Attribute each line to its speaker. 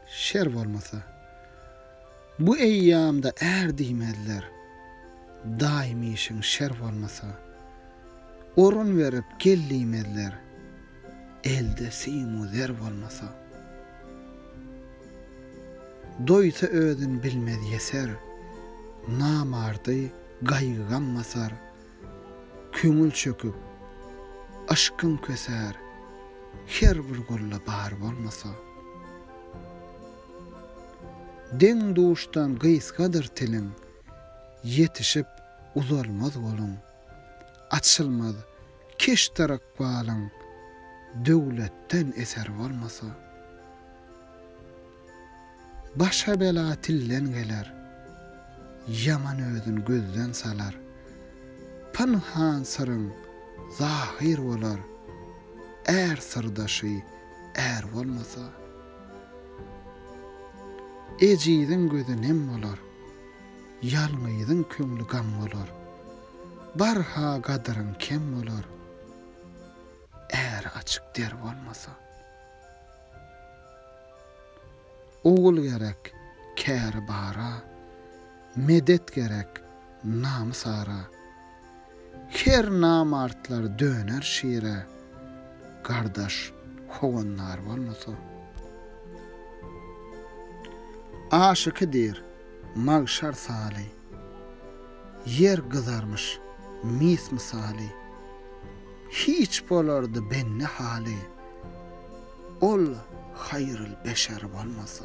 Speaker 1: Şer bolmasa, bu eýýamda är diýmezler. Daýym işiň şer bolmasa, orun berip gel diýmezler. Elde sim-u zer bolmasa, doýsa özün bilmez ýeser. Namardy gaýgy-gam basar. Köňül çöküp, yşkyň kösär, Her bir gulda bar bolmasa. Deň-duşdan gysgadyr tiliň, Ýetişip uzalmaz goluň. Açylmaz keşdar ykbalyň, Döwletden eser bolmasa. Başa bela tilden geler. Ýaman özün gözden salar. Pynhan syryň zahyr bolar. Är syrdaşy är bolmasa. Ejiziň gözi nem bolar. Ýalňyzyň köňli gam bolar. Barha gadyryň kem bolar. Är açyk der bolmasa. Ogul gerek käri bara, Medet gerek namys-ara. Her namartlar döner şire, Gardaş, howandar bolmasa. Aşyky diýr, magşar saly. Ýer gyzarmyş mis mysaly. Hiç bolardy bende haly, Ol haýryl beşer bolmasa.